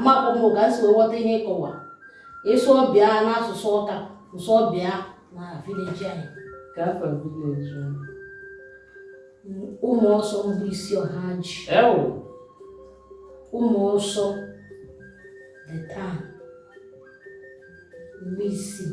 amakpọ m ka si ghọta ihe ịkọwa ịsụ ọbịa n'asụsụ ọka nsụ ọbịa na vileji anyị ka afọ vileji ụmụ ọsọ mbụ isi ọha ji ụmụ ọsọ the town mgbe isii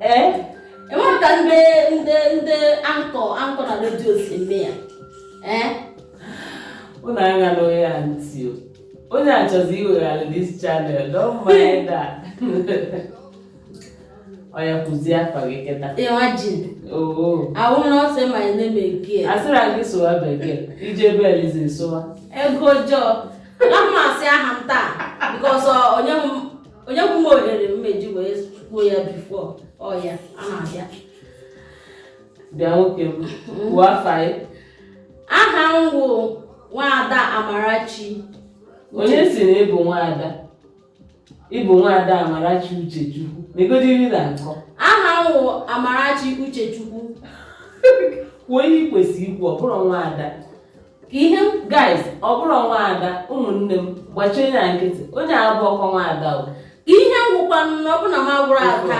ee enweghị ka ndị ndị ndị anchor anchor na redio si eme ya ee ụnụ aṅala onye a ntị o onye a chọzi iweghara this channel don't mind that oya kwuzie afa gị kịta imagine oo ahụ na ọ sị ma ị na-eme nke ya a sịrị gị sụwa bekee i jee be eliza sụwa igbo jọọ na mmasị aha m taa because onye m o nyekwu m ohere m eji wee kwuo ya before oya na-abịa bịa nwoke m kwuo afa gị aha m bụ nwaada amarachi onye sị na ị bụ nwaada ị bụ nwaada amarachi uchechukwu negodi ihe ị na-akọ aha m bụ amarachi uchechukwu kwuo ihe ị kwesịrị ikwu ọ bụrọ nwaada ihe guys ọ bụrọ nwaada ụmụnne m gbachie ya nkịtị onye a bụrọkwa nwaada o ihe ngwụkwa na ọ bụ na m agwụrụ aka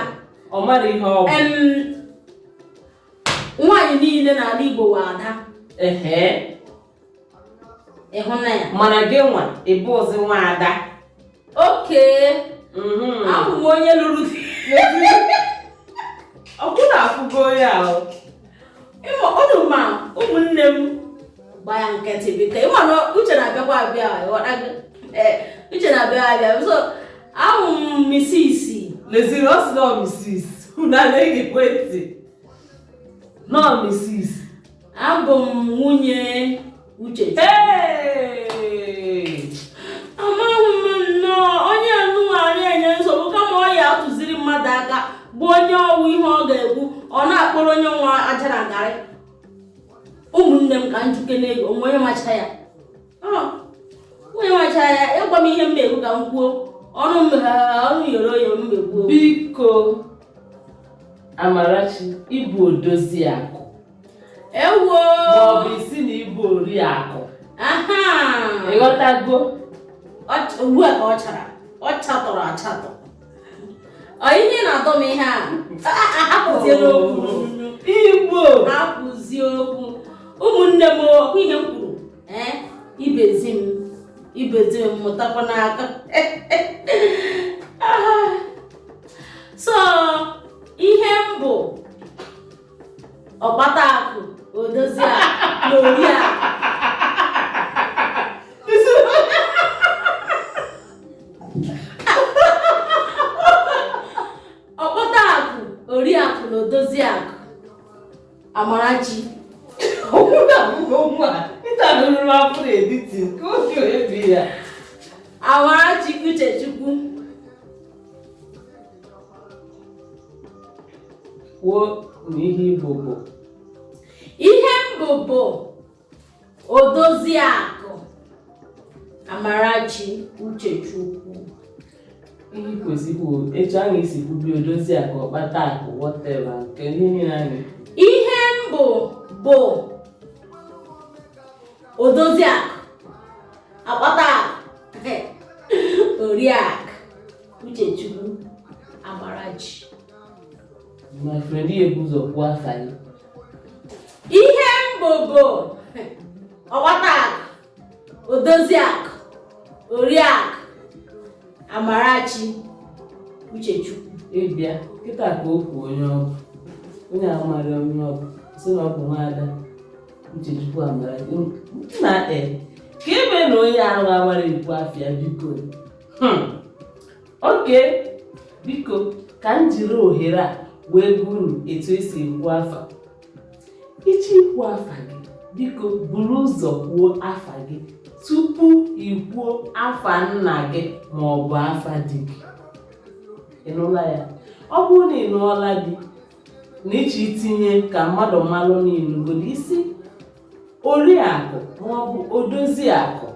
ọ mara ihe ọ bụ nwaanyị niile n'ala Igbo wụ ada ehe ịhụnanya mana gị nwa ị bụrọzi nwaada okay mhm. abụ m onye lụrụ di ọkwa unu afụgo ya ị ma unu ma ụmụnne m gba ya nkịtị biko ị ma na uche na-abịakwa abịa uche na-abịa abịa so awụ m Mrs leziri ọ sị na ọ Mrs unu na-egekwa ntị no Mrs Abụ m nwunye Uche. Amaghị m nnọọ onye n'ime anyị enye nsogbu kama ọ ya atụziri mmadụ aka bụ onye ọ wụ ihe ọ ga-ekwu ọ na-akpọrọ onye nwa ajara garị ụmụnne m ka m jụkene gị o nwe onye macha ya onye macha ya ị gwa m ihe mmegbu ka m kwuo ọnụ ọnụ yoro oyo mmegbu biko amarachi ị bụ odozi akụ ewo maọbụ ị sị na ị bụ ori akụ ị ghọtago ugbu a ka ọ chara ọ chatọrọ achatọ ọ ihe na-atọ m ihe a hapụzie okwu igbo hapụzie okwu ụmụnne m ọkwa ihe m kwuru ee Ibezim Ibezim mụtakwa n'aka so ihe m bụ ọkpata akụ odozi akụ na ori akụ ọkpata akụ ori akụ na odozi akụ Amarachi okwu na abụghị okwu a ịta nụrụ afọ na-editi nke oge ebi ya Amarachi Uchechukwu kwuo na ihe ị bụ bụ ihe m bụ bụ Odoziakụ Amarachi Uchechukwu ihe kwesịrị etu anyị si kwubi Odoziakụ ọkpata akụ whatever nke niile anyị ihe m bụ bụ Odoziakụ ọkpata akụ oriakụ Uchechukwu Amarachi My friend, ị ya-ebu ụzọ kwuo afa gị. Ihe m bụ bụ ọkpata akụ, odozi akụ, oriakụ, Amarachi Uchechukwu. Ị bịa kịta ka o kwuo onye ọ bụ. Onye ahụ mara onye ọ bụ, sị na ọ bụ nwaada Uchechukwu Amarachi. Na e, ka ebe na onye ahụ amara ekwu afa ya biko. Hmm. okay biko ka m jiri ohere a wee gwa unu etu esi ekwu afa ị chọ ikwu afa gị biko buru ụzọ kwuo afa gị tupu i kwuo afa nna gị ma ọ bụ afa di gị ị nụla ya ọ bụrụ na ị lụọla di na ị chọ itinye ka mmadụ malụ na ị lụgo di ị sị oriakụ ma ọ bụ odozi akụ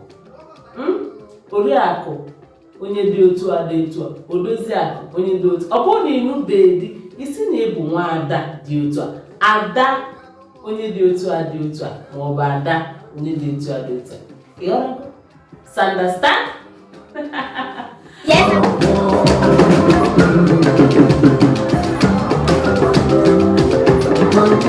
oriakụ onye dị otu a dị otu a odozi akụ onye dị otu ọ bụrụ na ị lụbeghị di ị sị na ị bụ nwaada dị otu a ada onye dị otu a dị otu a ma ọ bụ ada onye dị otu a dị otu a you understand Yes. Thank you.